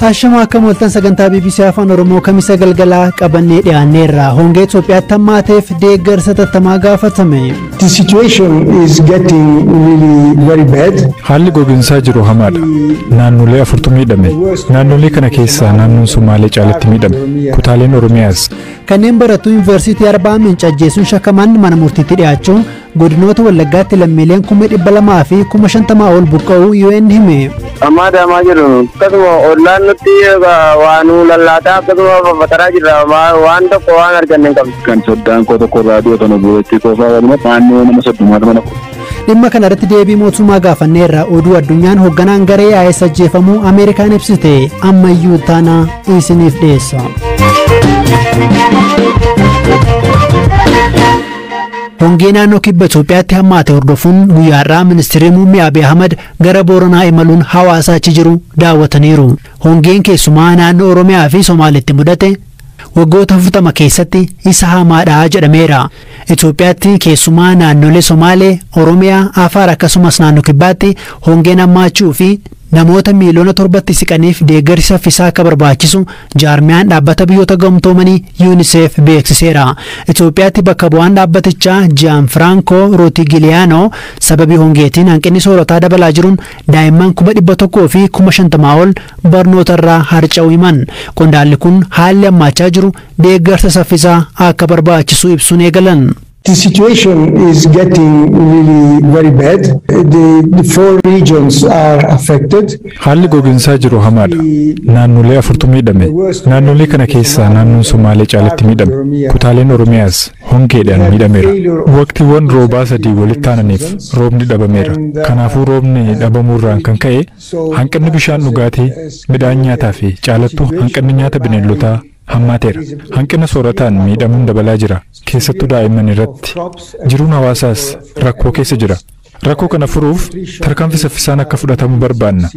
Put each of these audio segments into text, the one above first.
Ashamaa akkam ooltan sagantaa BBC Afaan Oromoo kamisa galgalaa qabannee dhiyaanneerra. Hongee Itoophiyaatti hammaateef deeggarsa tattamaa gaafatame. The situation is getting really very bad. Haalli goginsaa jiru hamaadha. Naannolee afurtu miidhame. Naannolee kana keessaa naannoon Somaalee caalatti miidhame. Kutaaleen Oromiyaas. Kanneen barattuu Yuunivarsiitii Arbaa Minci ajjeesuun shakkaman mana murtiitti dhiyaachuu Godinoota Wallaggaatti lammiileen kuma dhibba lamaa fi kuma shantamaa ol buqqa'uu UN hime. Ammaa daamaa jiru akkasuma ollaan nutti waa nu lallaataa akkasuma faffataraa jirra waan tokko waan arganne hin qabnu. Kan soddaan koo tokko raadiyoo kana bu'eetti koofaa waluma naannoo nama soddomaa mana Dhimma kana irratti deebii mootummaa gaafanneerra oduu addunyaan hoogganaan garee AS ajjeefamuu Ameerikaan ibsite ammayyuu taana isiniif dhiyeessa. Hongee naannoo kibba Itoophiyaatti hammaate hordofuun guyyaa har'aa ministirri muummee Abiy Ahmad gara Booranaa imaluun hawaasa achi jiru daawwataniiru. Hongeen keessumaa naannoo Oromiyaa fi Somaalitti mudate waggoota 40 keessatti isa hamaadha jedhameera. Itoophiyaatti keessumaa naannolee Somaalee, Oromiyaa, Afaar akkasumas naannoo kibbaatti hongeen hammaachuu fi Namoota miiliyoona torbatti siqaniif deeggarsi saffisaa akka barbaachisu jaarmiyaan Dhaabbata Biyyoota Gamtoomanii Unicef beeksiseera. Itoophiyaatti bakka bu'aan dhaabbatichaa Jiyaanfiraankoo Rootigiliyaanoo sababii hongeetiin hanqinni soorataa dabalaa jiruun daa'imman kuma dhibba tokkoo fi kuma shantamaa ol barnootarraa harca'uu himan. Qondaalli kun haalli hammaachaa jiru deeggarsa saffisaa akka barbaachisu ibsuun eegalan. The situation is getting really very bad. The, the four regions are affected. Haalli goginsaa jiru hamaadha. Naannolee afurtu miidhame. Naannolee kana keessaa naannoon Somaalee caalatti miidhame. Kutaaleen Oromiyaas hongeedhaan miidhameera. Waqtiiwwan roobaa sadii walitti aananiif roobni dhabameera. Kanaafuu roobni dhabamuurraan kan ka'e hanqinni bishaan dhugaatii, midhaan nyaataa fi caalattuu hanqinni nyaata bineeldotaa hammaateera. Hanqina soorataan miidhamuun dabalaa jira. Keessattuu daa'imman irratti. Jiruun hawaasaas rakkoo keessa jira. Rakkoo kana furuuf tarkaanfii saffisaan akka fudhatamu barbaanna.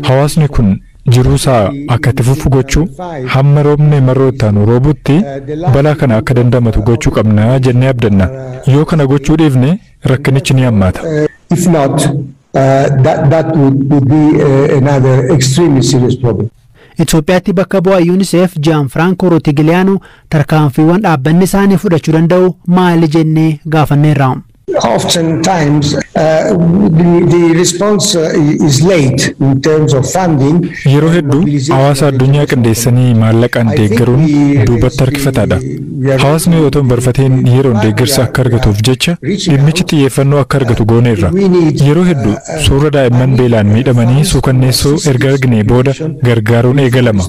Hawaasni kun jiruu isaa akka itti fufu gochuu, hamma roobni marroo itti aanu roobutti balaa kana akka dandamatu gochuu qabna jennee abdanna. Yoo kana gochuu dhiifne rakkinichi ni hammaata. If not, That would be another extremely serious problem. Itoophiyaatti bakka bu'aa UNICEF Jiyaanfiraankoo Rootigiliyaanoo tarkaanfiiwwan dhaabbanni isaanii fudhachuu danda'u maali jennee gaafanneerra. Oftentimes the response is late in terms of funding. Yeroo hedduu hawaasa addunyaa qindeessanii maallaqaan deeggaruun duubatti harkifataadha. Hawaasni otoo hin barfatiin yeroon deeggarsa akka argatuuf jecha dhimmichi xiyyeeffannoo akka argatu gooneerra. Yeroo hedduu suuraa daa'imman beelaan miidhamanii suukanneessoo erga arginee booda gargaaruun eegalama.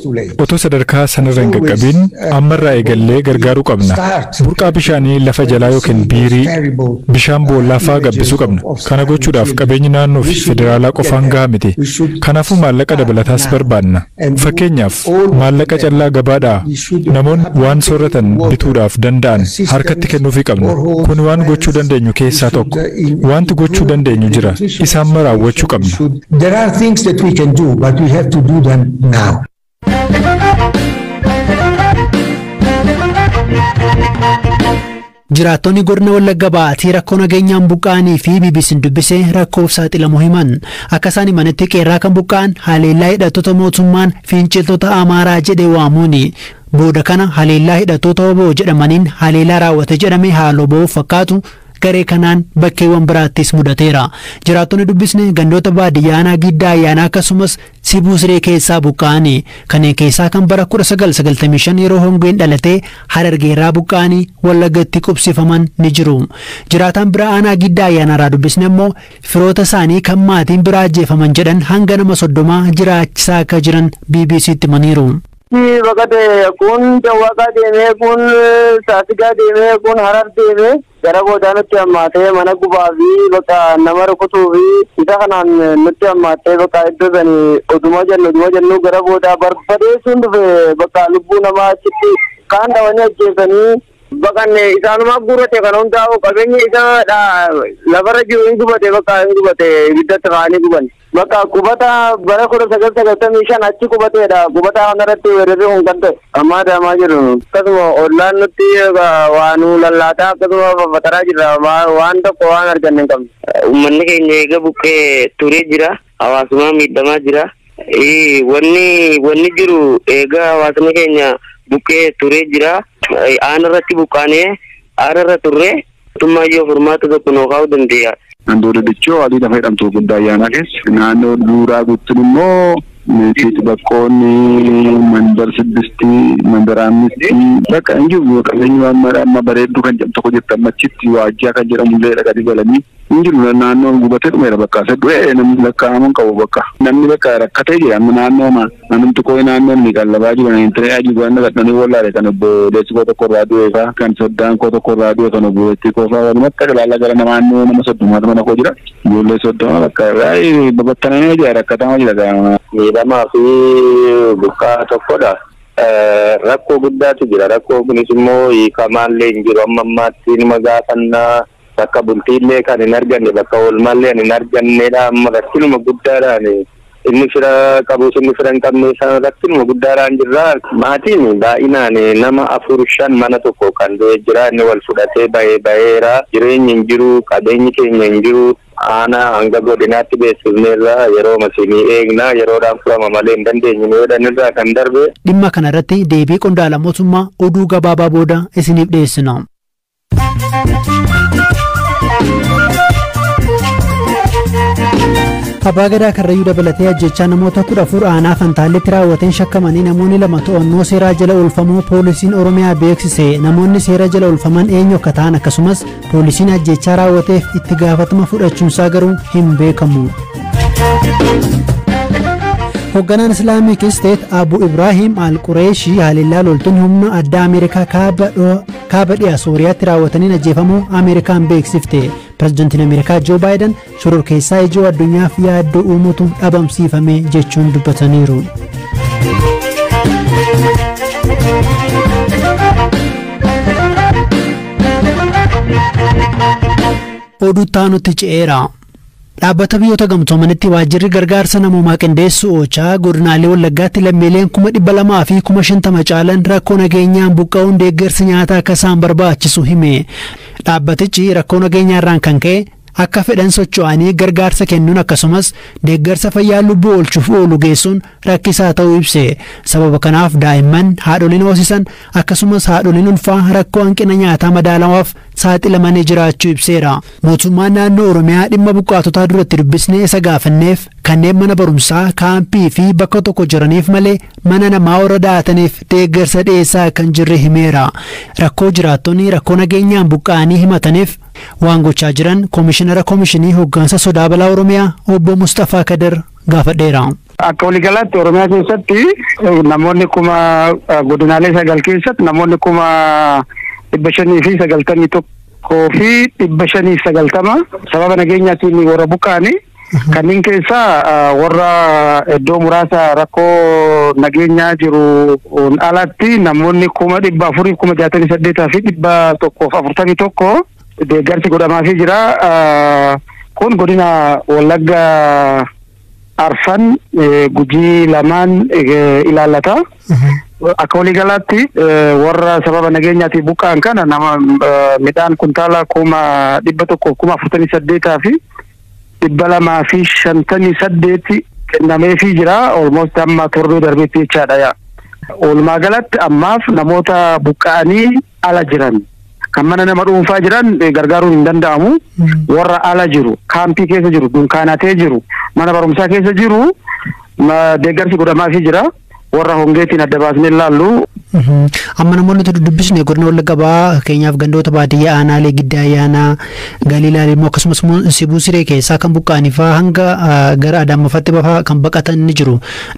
Otoo sadarkaa sanarra hin qaqqabiin ammarraa eegallee gargaaruu qabna. Burqaa bishaanii lafa jalaa yookiin biirii, bishaan boollaa fa'aa gabbisuu qabna. Kana gochuudhaaf qabeenyi naannoofi federaalaa qofaan gahaa miti. Kanaafuu maallaqa dabalataas barbaadna. Fakkeenyaaf, maallaqa callaa gabaadhaa namoonni waan soorratan bituudhaaf danda'an harkatti kennuufii qabna. Kun waan gochuu dandeenyu keessaa tokko. Waanti gochuu dandeenyu jira, isa amma raawwachuu qabna. Jiraattonni Godina Wallagga Ba'aatii rakkoo nageenyaan buqqa'anii fi BBC'n dubbise rakkoof saaxilamuu himan. Akka isaan himanitti qeerraa kan buqqa'an haleellaa hidhattoota mootummaan finciltoota Amaaraa jedhee waamuuni. Booda kana haleellaa hidhattoota wbo jedhamaniin haleelaa raawwate jedhame haaloo ba'uuf fakkaatu garee kanaan bakkeewwan biraattis mudateera. Jiraattonni dubbisne gandoota baadiyyaa aanaa Giddaa Ayyaanaa akkasumas Sibuu Siree keessaa buqqa'ani. Kanneen keessaa kan bara 1995 yeroo hongeen dhalatee Harargee irraa buqqa'anii Wallaggatti qubsifaman ni jiru. Jiraataan bira aanaa Giddaa Ayyaanaa irraa dubbisne ammoo firoota isaanii kan maatiin bira ajjeefaman jedhan hanga nama soddomaa jiraachisaa akka jiran BBC'tti himaniiru. Bakka kun dawwaqaa deemee kun saasigaa deemee kun harar deemee Gara boodaa nutti hammaatee mana gubaa fi bakka nama rukutuu fi isa kanaan nutti hammaattee bakka iddoo sani oduma jennu oduma jennu gara boodaa barbadeessuun dhufe bakka lubbuu namaa achitti kaan dhawanii ajjeesanii baqanne isaanuma guurate kana hundaa'u qabeenya isa lafarra jiru hin gubate bakka hin gubate ibiddatti kaanii gubanne. Bakka qubata bara kudha sagal sagaltamii shan achi qubateedha. Qubataa kanarratti weerarri kun kan ta'e. Amma adaamaa jiru. Akkasuma ollaan nutti waa nu lallaataa akkasuma faffaxaraa jirra. Waan tokko waan arganne hin qabne. Uummanni keenya eega buqqee turee jira. Hawaasumaa miidhamaa jira. Wanni wanni jiru eega hawaasni keenya buqqee turee jira. Aana irratti buqqaanee aara irra turre. Mootummaan yoo furmaata tokko nuu kaa'uu dandee'a. Andoo Dadichoo adii lafa jedhamtu Guguddaa Ayyaanaa keessa. Naannoo Duuraa Guuttin immoo Meetiit Baqqoon, Mandar Siddisti, Mandar Aammisti bakka hin jiru qabeenyi waan mara amma Bareedduu kan jedhamtu tokko jirti amma achitti Waajjaa kan jedhamu illee dhaqanii galanii hin jiru naannoon gubatee dhumeera bakka. Du'ee namni lakkaa'amu hin qabu bakka. Namni bakka rakkatee jira amma naannooma. Anumti koo inaannoon ni qallabaa jiru na hin ture aji koo anna dadhanii wollaale kan obboleessi koo tokko irraa du'ee faa kan soddaan koo tokko irraa du'e kan obboleettii koo faa walumat xaqlaalla gara namaa annoo nama soddomaatu mana koo jira ijoollee soddoma bakka baay'ee babattanamee jira rakkatama jira gaama miidhamaa fi buqqaa tokkodha. Rakkoo guddaatu jira. Rakkoo kunis immoo hiikamaallee hin jiru. Amma ammaatti numa gaafannaa. Bakka bultiillee kan hin arganne, bakka oolmaallee kan hin arganneedha. Amma rakkinuma guddaadhaan inni fira qabus inni fira hin qabne isaan rakkinuma guddaadhaan jirra. Maatiin baay'inaan nama afur shan mana tokko kan du'e jira. Inni wal fudhatee bahe baheera. Jireenyi hin jiru, qabeenyi keenya hin jiru. Aanaa hanga godinaatti beeksifneerra. Yerooma isin eegna, yeroodhaan furama malee hin dandeenyu nu jedhan irraa kan darbe. Dhimma kana irratti deebii qondaala mootummaa oduu gabaabaa booda isiniif dhiyeessina. Abbaa Gadaa Karrayyuu dabalatee ajjechaa namoota kudha afur aanaa Fantaalleetti raawwateen shakkamanii namoonni lama to'annoo seeraa jala oolfamuu poolisiin Oromiyaa beeksise namoonni seera jala oolfaman eenyu akka ta'an akkasumas poolisiin ajjechaa raawwateef itti gaafatama fudhachuunsaa garuu hin beekamu. Hoogganaan Islaamik Isteet Abu Ibraahim Al-Qureeshii haleellaa loltoonni humna addaa Ameerikaa kaaba kaaba dhiha sooriyaatti raawwataniin ajjeefamuu ameerikaan beeksifte pirezidantiin ameerikaa joo baayidan shororkeessaa ijoo addunyaaf yaaddoo uumutu dhabamsiifame jechuun dubbataniiru. oduu taanutti ce'eera. Dhaabbata Biyyoota Gamtoomanitti Waajjirri Gargaarsa Namoomaa Qindeessu, OCHA, Godinaalee Wallaggaatti lammiileen kuma 200 fi kuma 50 caalan rakkoo nageenyaan buqqa'uun deeggarsi nyaataa akka isaan barbaachisu hime. Dhaabbatichi rakkoo nageenyaarraan kan ka'e akka fedhan socho'anii gargaarsa kennuun akkasumas deeggarsa fayyaa lubbuu oolchuuf oolu geessuun rakkisaa ta'uu ibse. Sababa kanaaf daa'imman, haadholiin hoosisan akkasumas haadholiin ulfaa rakkoo hanqina nyaataa madaalawaaf saaxilamanii jiraachuu ibseera. Mootummaan naannoo Oromiyaa dhimma buqqaatotaa duratti dubbisnee isa gaafanneef kanneen mana barumsaa, kaampii fi bakka tokko jiraniif malee mana namaa warra da'ataniif deeggarsa dhiyeessaa akka hin jirre himeera. Rakkoo jiraattonni rakkoo nageenyaan buqqa'anii himataniif waan gochaa jiran Komishinara Komishinii Hoggansa Sodaa Balaa Oromiyaa obbo Mustafaa Kadir gaafadheera. Akka waligalaatti Oromiyaa keessatti namoonni kuma godinaalee sagal keessatti namoonni kuma dhibba shanii fi sagaltamii tokkoo fi dhibba shanii sagaltama sababa nageenyaatiin warra buqqa'ani. Kanneen keessaa warra iddoo muraasa rakkoo nageenyaa jiru alatti namoonni kuma dhibba afurii kuma jaatamii saddeetaa fi dhibba tokkoof afurtamii tokko deeggarsi godhamaafii jira. Kun godina Wallagga Arfan gujii lamaan ilaallata. Akka waliigalaatti warra sababa nageenyaatiin buqqa'an kana nama midhaan kuntaala kuma dhibba tokko kuma afurtamii saddeetaa fi dhibba lamaa fi shantamii saddeeti kennameefii jira. Olmost amma torbee darbeetti jechaadha. Walumaa galatti ammaaf namoota buqqa'anii ala jiran kan mana nama dhuunfaa jiran eh, gargaaruun hin danda'amu. Warra ala jiru, kaampii keessa jiru, dunkaanatee jiru, mana barumsaa keessa jiru ma- deeggarsi godhamaafii jira. Warra hongeetiin adda baasnee ilaallu Mhm. Amma namoonni nuti dubbisne godina Wallagga Bahaa fakkeenyaaf gandoota baadiyyaa aanaalee giddaa ayyaanaa galiilaa immoo akkasumas immoo sibuu siree keessaa kan buqqa'anii fa'aa hanga ah, gara adaammafaatti bafaa kan baqatan ni jiru.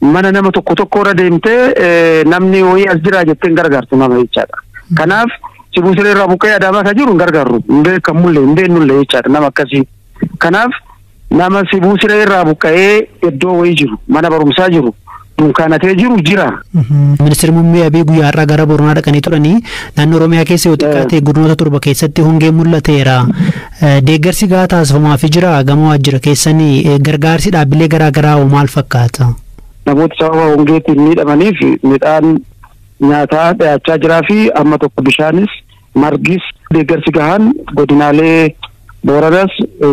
mana nama tokko tokko irra deemtee eh, namni wayii as jira jettee hin gargaartu nama jechaadha. Kanaaf sibuu siree irraa buqqee adaamaa kan jiru hin gargaarru hin beekamullee hin beennullee jechaadha nama akkasii. Kanaaf nama sibuu siree irraa buqqa'ee iddoo wayii jiru mana barumsaa jiru dunkaanatee jiru jira. Ministeerri muummee Abiy guyyaa har'aa gara Booranaa dhaqanii turanii naannoo Oromiyaa keessa yoo xiqqaate godinoota torba keessatti hongeen mul'ateera. Deeggarsi gahaa taasifamuafi jiraa? Gama waajjira keessanii gargaarsi dhaabbilee garaa garaa hoo maal fakkaata? Namoota sababa hongeetiin miidhamaniif midhaan nyaataa dhiyaachaa jiraa fi amma tokko bishaanis margis deeggarsi gahaan godinaalee Booranas,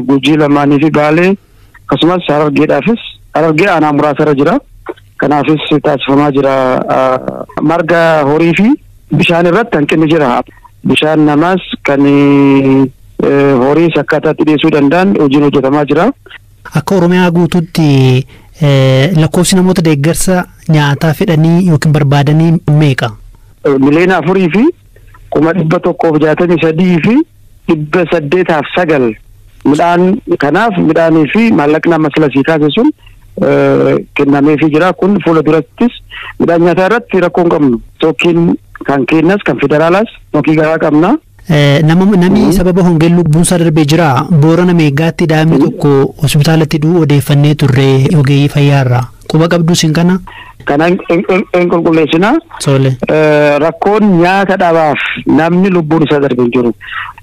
Gujii lamaanii fi Baalee, akkasumas harargeedhaafis harargee aanaa muraasa irra jira. Kanaafis taasifamaa jira. Marga horii fi bishaan irratti hanqinni jira. Bishaan namaas kan horiis akkaataatti dhiyeessuu danda'an hojiin hojjetamaa jira. Akka Oromiyaa guutuutti lakkoofsi namoota deeggarsa nyaataa fedhanii yookiin barbaadanii meeqa? Miliyoona afurii fi kuma dhibba tokkoof jaatamii sadii fi dhibba saddeetaaf sagal midhaan kanaaf midhaanii fi maallaqni amma sila sii kaase sun kennameefii jira kun fuula durattis midhaan nyaataa irratti rakkoo hin qabnu tokkiin kan keenyas kan federaalaas tokkii gahaa qabna. Namni sababa hongeen lubbuunsaa darbee jira boorana meegaatti daa'imni tokko hospitaalatti du'u odeeffannee turre ogeeyyii fayyaarraa. Quba qabduu isin kana? Kana hin qulqulleessina. Tole. Rakkoon nyaata dhabaaf namni lubbuun isaa darbe hin jiru.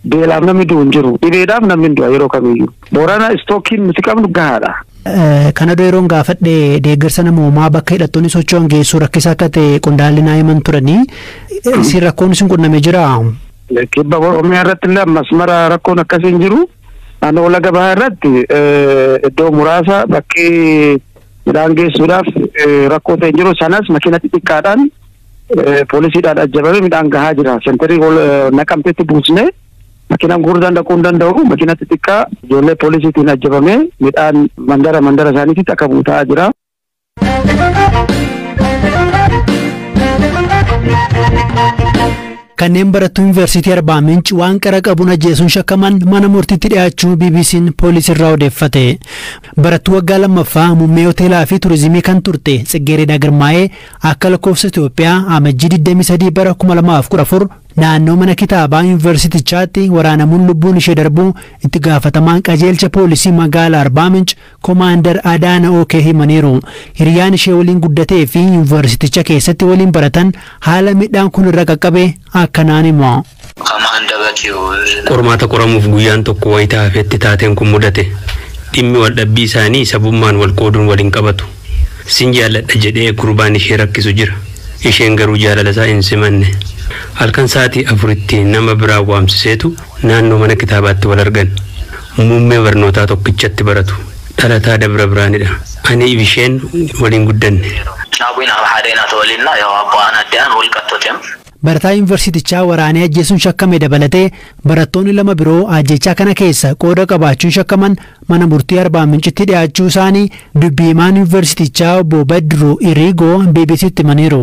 Beelaaf namni du'u hin jiru. Dhibeedhaaf namni hin du'a yeroo kamiyyuu. Boorana istookiin nuti qabnu gahaadha. Kana dura yeroon gaafadhe deeggarsa namoomaa bakka hidhattoonni socho'an geessuu rakkisaa akka ta'e qondaalli naa himan turanii isin rakkoon isin qunname jiraa? Kibba Oromiyaa irratti illee ammas mara rakkoon akkasii hin jiru. Naannoo laga bahaa irratti iddoo muraasa bakkee midhaan geessuudhaaf rakkoo ta'e jiru sanas makiina xixiqqaadhaan poolisiidhaan ajjabamee midhaan gahaa jira. Sentarii naqamteetti buusnee makiinaan guddaan dhaquu hin danda'u. Makiina xixiqqaa ijoollee poolisiitiin ajjabamee midhaan mandara mandara isaaniitti akka buutaa jira. Kanneen barattuu Yuunivarsiitii Arbaa Minc waan qara qabuun ajjeesuun shakkaman mana murtiitti dhiyaachuu BBC'n poolisiirraa odeeffate. Barattuu waggaa lammaffaa muummee hoteelaa fi turizimii kan turte Tsiggeereedaa Girmaa'ee akka lakkoofsa Itoophiyaa amajjii 23 bara 2014 naannoo mana kitaabaa yuunivarsiitichaatti waraanamuun lubbuun ishee darbuu itti gaafatamaan qajeelcha poolisii magaalaa Arbaa Minc Komaandar Adaana OK himaniiru. Hiriyaan ishee waliin guddatee fi Yuunvarsiticha keessatti waliin baratan haala miidhaan kun irra qaqqabe akkanaan himu. Qormaata qoramuuf guyyaan tokko wayita hafetti taateen kun mudate. Dhimmi waldhabbii isaanii sabummaan wal qooduun wal hin qabatu. Sin jaalladha jedhee gurbaan ishee rakkisu jira. Isheen garuu jaalala isaa hin simanne. Halkan sa'aatii afuritti nama biraa waamsiseetu naannoo mana kitaabaatti wal argan. Muummee barnootaa tokkichatti baratu. Dhalataa Dabra Biraanidha. Ani Ibisheen waliin guddanne. Caabuin Abhaadeenaa Tawalinnaa Yaw Abbo Aanaa De'aan Walqattotem. Barataa Yuunivarsiitichaa waraanee ajjeesuun shakkame dabalatee barattoonni lama biroo ajjeechaa kana keessa qooda qabaachuun shakkaman mana murtii Arbaamincitti dhiyaachuu isaanii dubbi himaan Yuunivarsiitichaa obbo Badru Iriigoo BBC'tti himaniiru.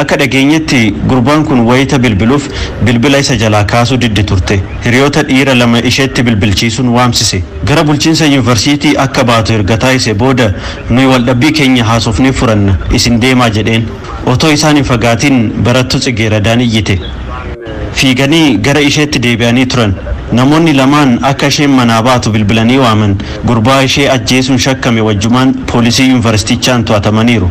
Akka dhageenyetti gurbaan kun wayita bilbiluf bilbila isa jalaa kaasuu diddi turte. Hiriyoota dhiira lama isheetti bilbilchiisuun waamsise. Gara bulchiinsa yunivarsiitii akka baatu erga taasise booda nuyi waldhabbii keenya haasofnee furanna isin deemaa jedheen. Otoo isaan hin fagaatiin barattu Tsigeeradaan iyyite. Fiiganii gara isheetti deebi'anii turan. Namoonni lamaan akka isheen manaa baatu bilbilanii waaman. Gurbaa ishee ajjeesuun shakkame wajjumaan poolisii yunivarsiitichaan to'atamaniiru.